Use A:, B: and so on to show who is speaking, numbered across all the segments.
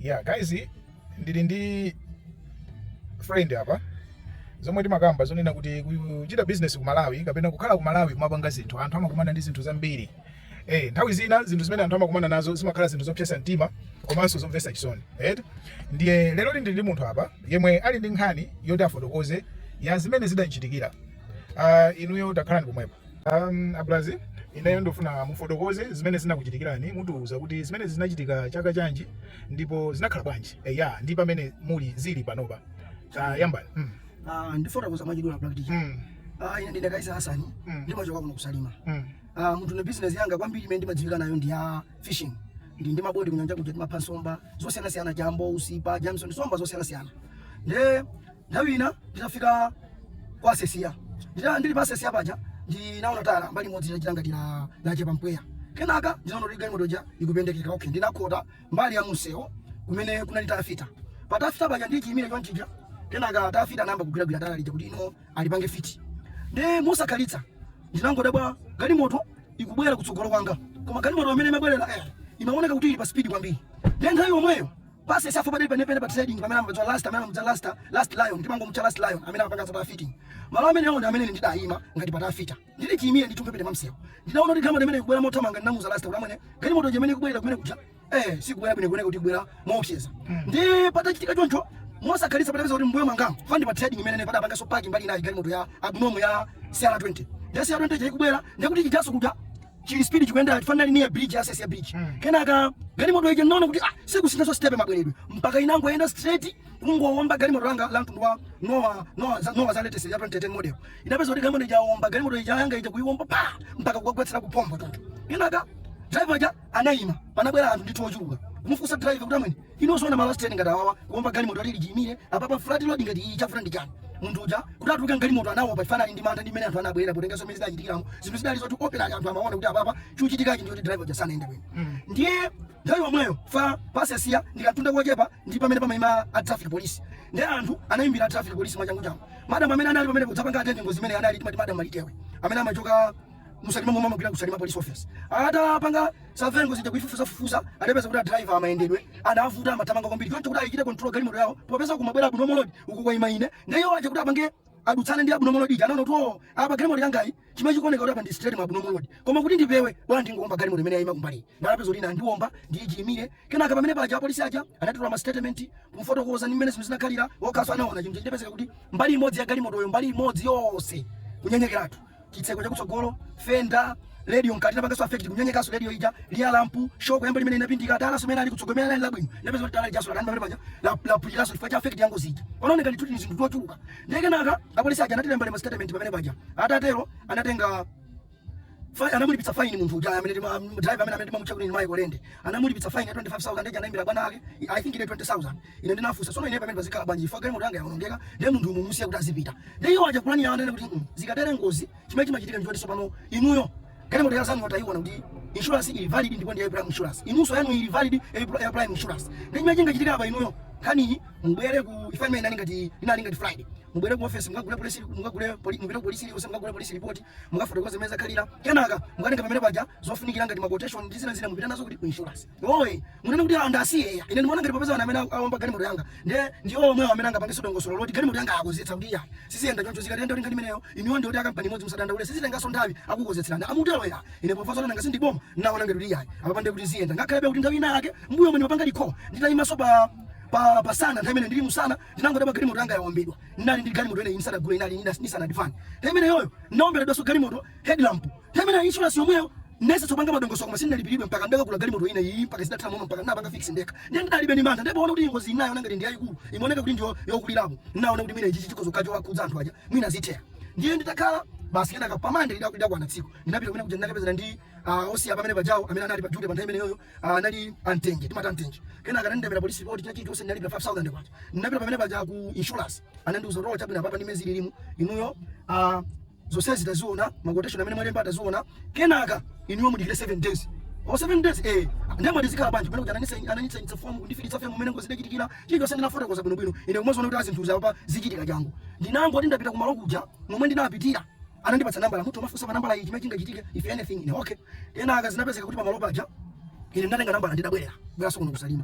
A: Yeah guys, ndili ndi friend apa zomwe timakamba zonena kuti kuchita business ku Malawi kapena kukhala ku Malawi kumapanga zinthu. Anthu amakumana ndi zinthu zambiri. Eh, nthawi zina zinthu zimene anthu amakumana nazo zimakhala zinthu zopsesa mtima komanso zomvesa chisoni. Eh? Ndiye lero ndili ndi munthu apa yemwe ali ndi nkhani yoti afotokoze ya zimene zidanchitikira. Uh, ah, inuyo takhalani pomwepo. Um, abulazi ineyo ndofuna mufotokoze zimene zinakuchitikirani mutiuze kuti zimene zinachitika chaka chanji ndipo zinakhala bwanji eya ndi pamene muli zili panopa uh, yambani mm. uh,
B: ndifotokoza mwachidula Black DJ mm. uh, ine ndine Kaisa Hasani mm. ndimachoka kuno ku Salima mm. uh, munthu ne business yanga kwambiri imene ndimadziwika nayo ndi ya fishing ndili ndi maboti kunyanja kuja timapha nsomba zosiyanasiyana chambo usipa jamison nsomba zosiyanasiyana nde Nthawi ina nditafika kwa Sesiya, ndita ndili pa Sesiya paja ndinaona tayala mbali imodzi likuchita ngati la lachepa mpweya. Kenaka ndinaona kuti galimoto ija ikupendekeka. Okay, ndinakhota mbali ya mumsewu kumene kunali tayala fita. Pa tayala fita paja ndichiyimire chonchija, kenaka tayala fita anayamba kugwiragwira tayala lija kuti mwina alipange fiti. Ndiye mosakhalitsa ndinangodabwa galimoto ikubwera kutsogolo kwanga, koma galimoto imene imabwerera eh, imaoneka kuti ili pa spidi kwambiri. Ndiye nthawi yomweyo Pasi safu bali penepene pa trading pamene amabadza last amene amabadza last last lion timangomutcha last lion amene amapanga zapa fitting. Malo amenewo ndi amene ndidayima ngati pa tayala fita. Ndili chiyimire nditumbe pene mumsewu. Ndidaona kuti galimoto imene ikubwera mothamanga ndinamuza last kuti amene galimoto imene ikubwera kumene kuja. Eh sikubwera bwino ikuoneka kuti ikubwera moopseza. Ndiye patachitika choncho mosakhalitsa patapeza kuti mmbuyo mwangamo chifukwa ndi pa trading imene padapangaso parking mbali inayi galimoto ya abnormal ya CR20. Ya CR20 ikubwera ndikuti chijaso kuja chili speed chikuyenda chifukwa anali near bridge ya Sesiya bridge mm. kenaka galimoto ija ndinaona kuti ah sikusinthaso step mabweredwe mpaka inangoyenda straight kungowomba galimoto langa la mtundu wa nowa nowa za- nowa za latest ya 2010 model inapeza kuti galimoto ija yawomba galimoto ija yanga ija kuyiwomba pa mpaka kukagwetsera kupomba tonto kenaka driver ja anayima panabwera anthu ndithu ochuluka kumufunsa driver kuti amene Inu osaona malo straight ngati awawa kuomba galimoto ili chiimire apapa flat road ngati iyi chavuta ndi chani munthu uja kuti atuluke mgalimoto anaopa chifukwa anali ndi mantha ndi mmene anthu anabwerera potenga zomwe zidachitikiramo zinthu zidali zoti operatu anthu amaona kuti apapa chochitikachi ndichoti driver uja sanayende bwino ndiye nthawi yomweyo chifukwa pa Sesiya ndi kamtunda kochepa ndi pamene pamaima a traffic police ndiye anthu anayimbira a traffic police mwachangu changu madam amene anali pamene kudzapanga atende ngozi imene ija anali timati madam Malitewe amene amachoka mu Salima momwemo amagwira ku Salima police office atapanga za ngozi ija kuifufuza fufuza adapeza kuti adriver mayendedwe adavuta amathamanga kwambiri choncho kuti ayikire control galimoto yawo popeza kumabwera abnormal load uku kwa ima ine ndiye iwo aja kuti apange adutsane ndi abnormal load ija anaona kuti oo apa galimoto yangayi chimene chikuoneka kuti apa ndi straight mwa abnormal load koma kuti ndipewe bwanji ndingoomba galimoto imene yayima kumbali ndiye anapeza kuti anandiomba ndili chiimire kenaka pamene paja apolisi aja anatitola ma statement kumfotokoza ndi mmene zinthu zinakhalira okaso anaona chimene chidapezeka kuti mbali imodzi ya galimotoyo mbali imodzi yonse kunyenyekeratu chitseko chakutsogolo fenda radio mkati napangaso affect kunyenyekanso radio ija liya lampu shoko yambo limene inapindika dala somene ali kutsogolo imene ali labwino ndapeza kuti tayala lijaso lakana pamene paja la- lapwiriranso chifukwa cha affect yangozi ija panaoneka ndithu tili zinthu tochuluka ndiye kenaka apolisi aja anatilembalemba ma statement pamene paja atatero anatenga Fa- anamulipitsa faini munthu uja amene tima- m- driver amene amene timamutcha kuti ni Michael Lende anamulipitsa faini ya 25000 ndiye uja anaimbira bwana ake i think ile 20000 Ine ndinafunsa, tsono ineyo pamene pazikhala bwanji chifukwa galimoto yanga yawonongeka ndiye munthuyu mumusiya kuti azipita. Ndiye iwo aja kuyankha kwawo ananena kuti, mm zikatere ngozi chimene chimachitika ndi choti tsopano inuyo galimoto ya anzanuyo tayiona kuti insurance ili valid ndipo ndi ya prime insurance. Inunso yanu ili valid ya pri- ya prime insurance. Ndiye chimene chingachitika apa inuyo nkhaniyi mubwere chifukwa imene inali ngati inali ngati Friday. Mubwere ku office mukagule police mukagule poli- mupite ku police iliyonse mukagule police report mukafotokoze mmene zakhalira. Kenaka mukatenga pamene paja zofunikira ngati ma quotation ndi zina zina mupite nazo kuti ku insurance. Ohi, mukunena kuti andisiya eya. Ine ndimaona ngati popeza ana amene awomba galimoto yanga ndiye ndi omwewo amene angapangenso dongosolo loti galimoto yanga akonzetsa akuti iyayi siziyenda choncho zikayenda kuti ngati imeneyo inuyo ndinu oti akampani imodzi musadandaule sizitenganso nthawi akukonzetserani mukutero eya. Ine pomva zoti nanga sindiboma ndinaona ngati kuti iyayi apapa ndiye kuti ziyenda ngakhalebe kuti nthawi ina yake m'mbuyomu ndimapanga dikho nditayimanso pa pa pasana nthawi imene ndili musana ndinangodabwa galimoto yanga yawombedwa ndinali ndi galimoto ina iyi ndisadagule inali ndisanadifane nthawi imeneyoyo ndinaomberedwanso galimoto headlamp Pamene a insurance yomweyo ndinayesetsa kupanga madongosolo koma sindinalipiridwe mpaka ndakagulitsa galimoto ine iyi mpaka zidatha momo mpaka ndinapanga fix ndekha ndiye ndidalibe mantha ndipoona kuti ngozi inayo naona ngati ndi yayikulu imaoneka kuti ndiyo yokulirapo ndinaona kuti mwina ichi chikhoza kukhala chowakhudza anthu aja mwina zitheka ndiye nditakhala basi kenaka pamande ida- idakwana tsiku ndinapita kumene kuja ndinakapezana ndi ah, ofisa pamene pajawo amene anali pa duty pa nthawi imeneyoyo ah, anali a Mtenje timati a Mtenje kenaka anandembera polisi report china chilichonse ndinalipira 5000 kwacha ndinapita pamene paja ku insurance anandiuza kuti "Oh, chabwino apapa ndi mmene zililimu inuyo ah, zonsezi taziona ma quotation amene mwalemba taziona kenaka inuyo mudikire 7 days o 7 days eh ndiye mwati zikhala bwanji pamene kuti ananisa ananitsa itsa fomu kundifilitsa fomu mmene ngozi idachitikira chilichonse ndinafotokoza bwino bwino ine kumaziona kuti aa zinthu apa zichitika changu ndinangoti ndapita kumalo kuja momwe ndinapitira anandipatsa nambala mwati muzifunsa pa nambala iyi chimene chingachitike if anything ine okay kenaka zinapezeka kuti pamalo paja ine ndinatenga nambala ndidabwerera kubweraso kuno ku Salima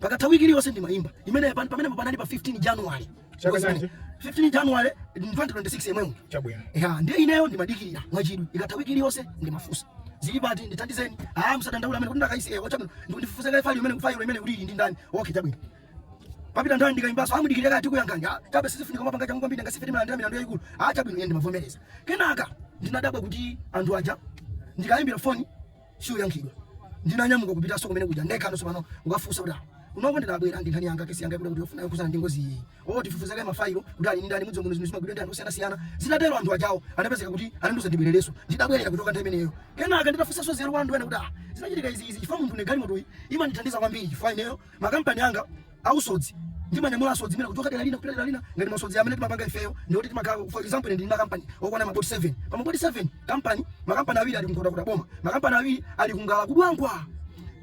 B: Pakatha wiki iliyonse ndimaimba imeneyo. Pamenepo panali pa 15 January. Chaka chanji? 15 January 2026 yemweyu. Chabwino. Eha, ndiye
A: ineyo
B: ndimadikirira mwachidwi. Ikatha wiki iliyonse ndimafunsa. Zili pati ndithandizeni? Ah, musadandaule amene kuti ndakaisi ewa chabwino. Ndifufuze kaye file imene file imeneyo ili ndi ndani? Okay, chabwino. Papita nthawi ndikaimbaso aa mudikirire kaye tikuyankhani. Ah, kabe sizifunika muzipanga changu kwambiri nanga si ife timalandira milandu yayikulu. Ah, chabwino ine ndimavomereza. Kenaka ndinadabwa kuti anthu aja ndikaimbira foni siikuyankhidwa ndinanyamuka kupitaso kumene kuja ndekhano sopano kukafusa kuti kunoko ndidabwera ndinkhani yanga kesi yanga yakuti yakuti yofuna yokhuzana ndi ngozi iyi oo tifufuze kaye mafailo kuti ali nindani mukudziwa muno zinthu zimagwidwa ndi anthu osiyana siyana zitatero anthu ajawo anapezeka kuti ananduza ndibwerereso ndidabwerera kuchoka nthawi imeneyo kenaka nditafusaso zero ndinaona kuti ah zinachitika izi izi chifukwa munthune galimotoyi imandithandiza kwambiri chifukwa ineyo makampani anga ausodzi ndimanyamula asodzi ena kuchoka dera lina kupita dera lina ngati masodzi amene timapanga ifeyo ndi oti timakhala for example ine ndili ndi makampani okwana maboti 7 pa maboti 7 kampani makampani awiri ali ku Nkhotakota boma makampani awiri ali ku Ngala ku Dwangwa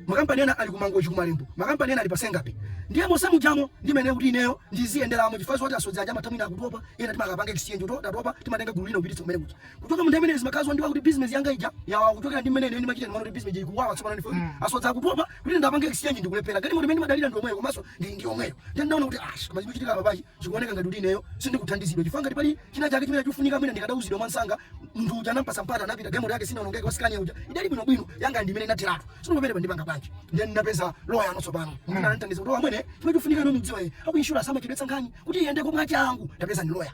B: makampani ena ali ku Mangochi ku Malembo makampani ena ali pa Senga Bay ndiye monse mujamo ndi mmene kuti ineyo ndiziyenderamo chifukwa zoti asodzi aja amatha mwina akutopa ena timakapanga exchange oti atopa timatenga gulu lina kupititsa kumene kuja kuchoka munthawi imeneyo zimakhala zondiwawa kuti business yanga ija yawawa kuchokera ndi mmene ine ndimachita ndimaona kuti business ija ikuwawa tsopano ndimve kuti asodzi akutopa kuti ndapange exchange ndikulephera galimoto imene ndimadalira ndi yomweyo komanso ndi ndi yomweyo ndiye ndinaona kuti ash koma zikuchitika apa pachi zikuoneka ngati kuti ineyo sindikuthandizidwa chifukwa ngati pali china chake chimene chikufunika mwina ndikadauzidwa mwansanga munthu uja anampasa mpata anapita galimoto yake sinaonongeke wa scania uja idali bwino bwino yanga ndi imene inatheratu tsono pamenepa ndipanga bwanji ndiye ndinapeza loya ano tsopano amene anandithandiza kuti amwene chimene chikufunika ino mudziwa iye aku insurance amachedwetsa nkhani kuti iyende komwe achangu ndapeza ndi loya